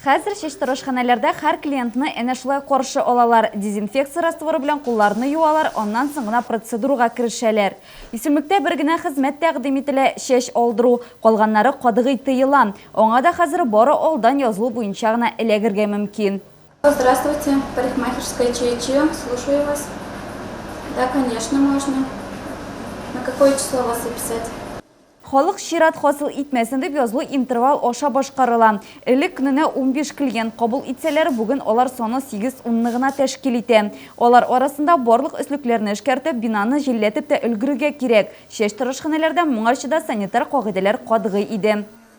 Хәзер чишторышханәләрдә һәр клиентны әнә шулай каршы алалар, дезинфекция растворы белән кулларны юалар, аннан соң гына процедурага керешәләр. Исемлектә бер генә хезмәт тәкъдим ителә, чәч алдыру, калганнары катгый тыела. Аңа да хәзер бары алдан язылу буенча гына эләгергә мөмкин. Здравствуйте, парикмахерская Чиечио, слушаю вас. Да, конечно, можно. На какое число вас записать? Халык чират хасил итмәсен дип язылу интервал аша башкарыла. Элек көненә унбиш клиент кабул итсәләр, бүген алар саны сигез-унны гына тәшкил итә. Алар арасында барлык өслекләрне эшкәртеп, бинаны җилләтеп тә өлгерергә кирәк. Чәчтырыш ханәләрдә моңарчы да санитар кагыйдәләр катгый иде.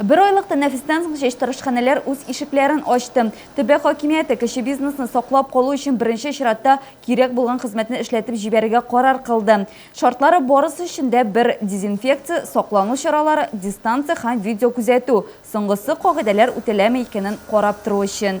Бер айлык тәнәфестән соң чәчтарышханәләр үз ишекләрен ачты. Төбәк хакимияте кече бизнесны саклап калу өчен беренче чиратта кирәк булган хезмәтне эшләтеп җибәрергә карар кылды. Шартлары барысы өчен дә бер, дезинфекция, саклану чаралары, дистанция һәм видеокүзәтү, соңгысы кагыйдәләр үтәләме икәнен карап тору өчен.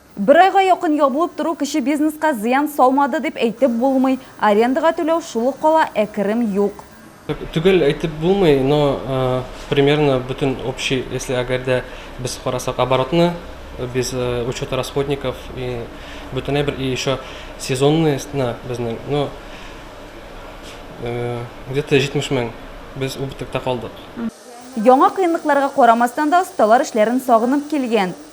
Бер айга якын ябылып тору кече бизнеска зыян салмады дип әйтеп булмый, арендага түләү шул ук кала, ә керем юк. Төгәл әйтеп булмый, но примерно бөтен общий, если әгәр дә без карасак оборотны, без учета расходников и бөтенләй бер и еще сезонные сны безнең, но где то 70 мең без убытокта калдык. Яңа кыенлыкларга карамастан да осталар эшләрен сагынып килгән.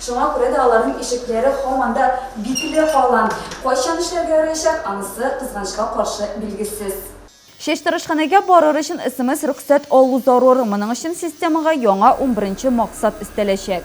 Шуңа күрә дә аларның ишекләре һаман да бикле кала. Кайчан эшләргә яраячак, анысы, кызганычка каршы, билгесез. Чәчтарышханәгә барыр өчен смс-рөхсәт алу зарур. Моның өчен системага яңа унберенче максат өстәләчәк.